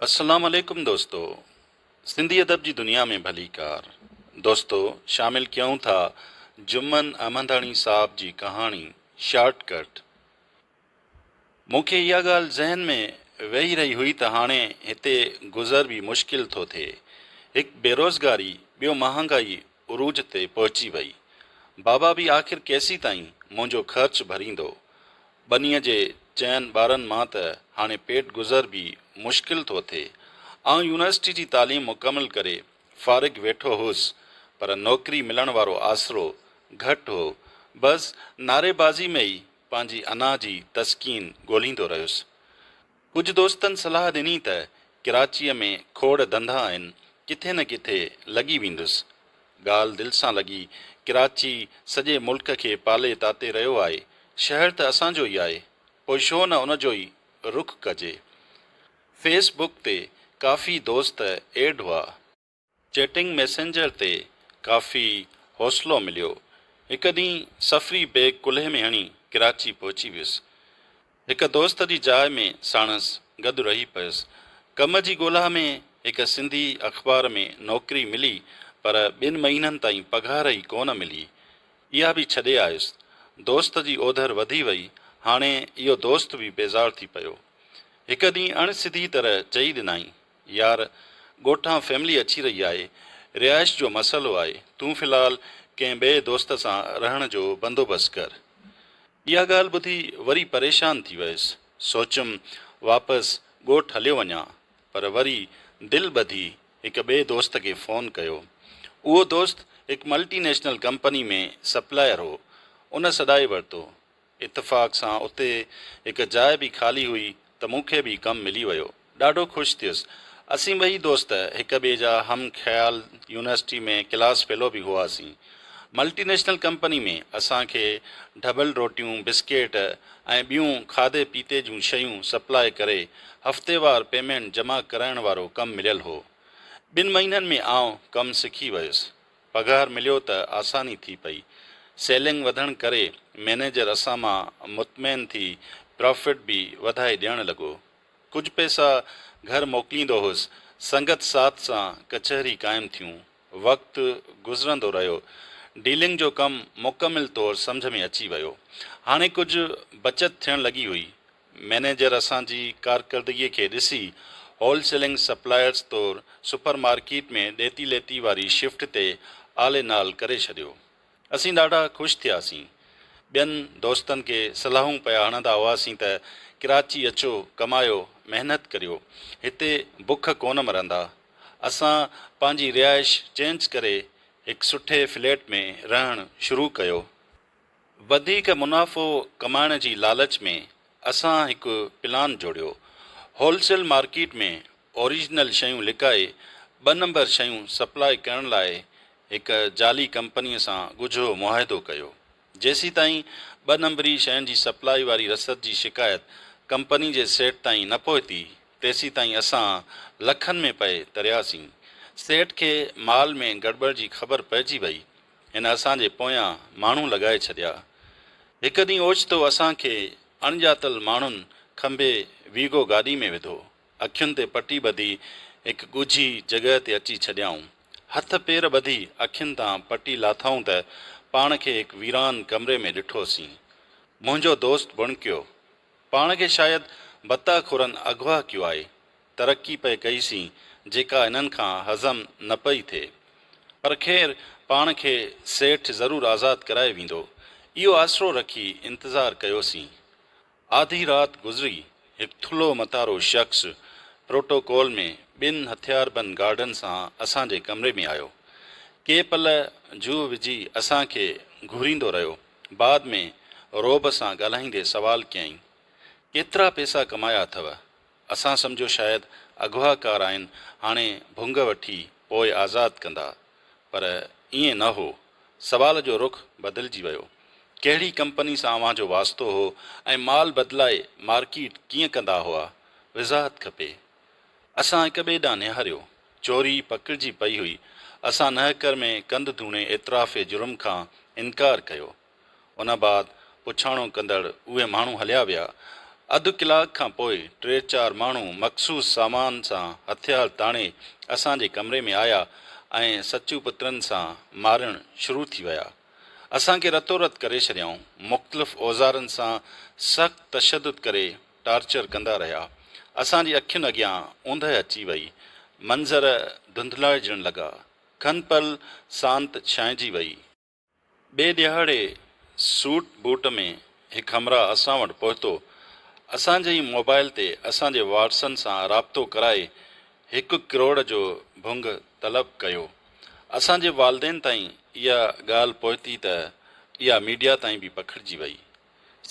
السلام عليڪم دوستو سنڌي ادب جي دنيا ۾ ڀليڪار دوستو شامل ڪيون ٿا جمن احمداڻي صاحب جي ڪهاڻي شارٽ ڪٽ مون کي اها ڳالهه ذهن ۾ ويهي رهي هئي ته هاڻي هتي گذر به مشڪل ٿو ٿئي هڪ بيروزگاري ٻيو مهانگائي عروج تي پهچي وئي. بابا به آخر ڪيسيتائين منهنجو خرچ ڀريندو؟ ٻنيء جي چئن ٻارن مان ته هاڻي پيٽ گذر به مشڪل ٿو ٿئي. آئون يونيورسٽي جي تعليم مڪمل ڪري فارغ ويٺو هوس، پر نوڪري ملڻ وارو آسرو گهٽ هو. بس نعريبازي ۾ ئي پنهنجي انا جي تسڪين ڳولهيندو رهيس. ڪجهه دوستن صلاح ڏني ته ڪراچيء ۾ کوڙ ڌنڌا آهن، ڪٿي نه ڪٿي لڳي ويندس. ڳالهه دل سان لڳي. ڪراچي سڄي ملڪ کي پالي تاتي رهيو آهي. شهر ته اسان جو ئي آهي، پوء شو نه ان جو ئي رخ ڪجي. فيس بڪ تي ڪافي دوست ايڊ هئا. چيٽنگ ميسنجر تي ڪافي حوصلو مليو. هڪ ڏينهن سفري بيگ ڪلهي ۾ هڻي ڪراچي پهچي ويس. هڪ دوست جي جاء ۾ ساڻس گڏ رهي پيس. ڪم جي ڳولا ۾ هڪ سنڌي اخبار ۾ نوڪري ملي پر ٻن مهينن تائين پگهار ئي ڪونه ملي. اها به ڇڏي آيس. دوست جي اوڌر وڌي وئي. هاڻي اهو دوست به بيزار ٿي پيو. هڪ ڏينهن اڻ سڌي طرح چئي ڏنائين. يار ڳوٺان فيملي اچي رهي آهي، رهائش جو مسئلو آهي، تون في الحال ڪنهن ٻئي دوست سان رهڻ جو بندوبست ڪر. اها ڳالهه ٻڌي وري پريشان ٿي ويس، سوچيم واپس ڳوٺ هليو وڃان، پر وري دل ٻڌي هڪ ٻئي دوست کي فون ڪيو. اهو دوست هڪ ملٽي نيشنل ڪمپني ۾ سپلائر هو، ان سڏائي ورتو. اتفاق سان اتي هڪ جاء به خالي هئي ته مون کي به ڪم ملي ويو. ڏاڍو خوش ٿيس. اسين ٻئي دوست هڪ ٻئي جا هم خيال يونيورسٽي ۾ ڪلاس فيلو به هئاسين. ملٽي نيشنل ڪمپني ۾ اسان کي ڍٻل روٽيون، بسڪيٽ ۽ ٻيون کاڌي پيتي جون شيون سپلاء ڪري هفتيوار پيمينٽ جمع ڪرائڻ وارو ڪم مليل هو. ٻن مهينن ۾ آئون ڪم سکي ويس. پگهار مليو ته آساني ٿي پئي. سيلنگ وڌڻ ڪري مئنيجر اسان مان مطمئن ٿي پرافٽ به وڌائي ڏيڻ لڳو. ڪجهه پئسا گهر موڪليندو هوس. سنگت ساٿ سان ڪچهري قائم ٿيون. وقت گذرندو رهيو. ڊيلنگ جو ڪم مڪمل طور سمجهه ۾ اچي ويو. هاڻي ڪجهه بچت ٿيڻ لڳي هئي. مئنيجر اسان جي ڪارڪردگي کي ڏسي هول سيلنگ سپلائرز طور سپر مارڪيٽ ۾ ڏيتي ليتي واري شفٽ تي عالي نال ڪري ڇڏيو. اسين ڏاڍا خوش ٿياسين. ٻين دوستن کي صلاحون پيا هڻندا هئاسين ته ڪراچي اچو ڪمايو محنت ڪريو هتي بک ڪونه مرندا. اسان پنهنجي رهائش چينج ڪري هڪ سٺي فليٽ ۾ رهڻ شروع ڪيو. وڌيڪ منافعو ڪمائڻ جي لالچ ۾ اسان هڪ پلان جوڙيو، هول سيل مارڪيٽ ۾ اوريجنل شيون لڪائي ٻه نمبر شيون سپلاء ڪرڻ لاء هڪ جعلي ڪمپنيء سان ڳجهو معاهدو ڪيو. جيسيتائين ٻه نمبري شين جي سپلاء واري رسد جي شڪايت ڪمپني جي سيٽ تائين نه پهتي، تيسيتائين اسان لکن ۾ پئي ترياسين. سيٽ کي مال ۾ گڙٻڙ جي خبر پئجي وئي هن اسان جي پويان ماڻهو لڳائي ڇڏيا. هڪ ڏينهن اوچتو اسان کي اڻڄاتل ماڻهن کنڀي ويگو گاڏي ۾ وڌو. اکين تي پٽي ٻڌي هڪ ڳجهي جڳهه تي اچي ڇڏيائون. هٿ پير ٻڌي اکين تان پٽي لاٿائون ته پاڻ کي هڪ ويران ڪمري ۾ ڏٺوسين. منهنجو دوست بڻڪيو. پاڻ کي شايد بتاخورن اغوا ڪيو آهي. ترقي پئي ڪئي سين جيڪا هنن کان هضم نه پئي ٿئي. پر خير پاڻ کي سيٺ ضرور آزاد ڪرائي ويندو اهو آسرو رکي انتظار ڪيو سين. آڌي رات گذري هڪ ٿلهو متارو شخص پروٽوڪول ۾ ٻن هٿياربند گارڊن سان اسان جي ڪمري ۾ آيو. ڪي پل جوهه وجهي اسان کي گهوريندو رهيو بعد ۾ رعب سان ڳالهائيندي سوال ڪيائين ڪيترا پئسا ڪمايا اٿو؟ اسان سمجهيو شايد اغوا ڪار آهن هاڻي ڀونگ وٺي پوء آزاد ڪندا پر ائين نه هو. سوال جو رخ بدلجي ويو. ڪهڙي ڪمپني سان اوهان جو واسطو هو ۽ مال بدلائي مارڪيٽ ڪيئن ڪندا هئا؟ وضاحت کپي. اسان هڪ ٻئي ڏانهن نهاريو. چوري پڪڙجي پئي هئي. اسان نهڪر ۾ ڪنڌ ڌوڻي اعتراف جرم کان انڪار ڪيو. ان بعد پڇاڻو ڪندڙ اهي ماڻهو هليا ويا. اڌ ڪلاڪ کان پوء ٽي چار ماڻهو مخصوص سامان سان هٿيار تاڻي اسان جي ڪمري ۾ آيا ۽ سچو پترن سان مارڻ شروع ٿي ويا. اسان کي رتو رت ڪري ڇڏيائون. مختلف اوزارن سان سخت تشدد ڪري ٽارچر ڪندا رهيا. اسان جي اکين اڳيان اوندهه اچي وئي. منظر ڌنڌلائجڻ لڳا. کنپل سانت ڇانئجي وئي. ٻئي ڏهاڙي سوٽ بوٽ ۾ هڪ همراهه اسان وٽ پهتو، اسان جي ئي موبائل تي اسان جي وارثن سان رابطو ڪرائي هڪ ڪروڙ جو ڀونگ طلب ڪيو. اسان جي والدين تائين اها ڳالهه پهتي ته اها ميڊيا تائين به پکڙجي وئي.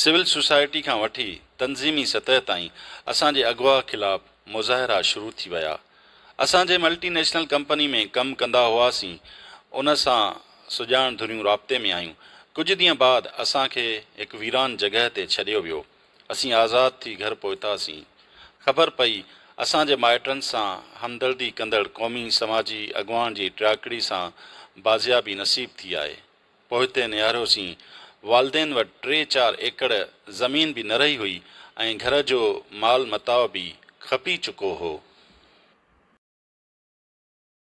سول سوسائٽي کان وٺي تنظيمي سطح تائين اسان جي اغوا خلاف مظاهرا شروع ٿي ويا. اسان جنهن ملٽي نيشنل ڪمپني ۾ ڪم ڪندا هئاسين ان سان سڄاڻ ڌريون رابطي ۾ آيون. ڪجهه ڏينهن بعد اسان کي هڪ ويران جڳهه تي ڇڏيو ويو. اسين آزاد ٿي گهر پهتاسين. خبر پئي اسان جي مائٽن سان همدردي ڪندڙ قومي سماجي اڳواڻ جي ٽياڪڙي سان بازيابي نصيب ٿي آهي. پوئتي نهاريوسين. والدين وٽ ٽي چار ايڪڙ زمين به نه رهي هئي ۽ گهر جو مال متاع به کپي چڪو هو.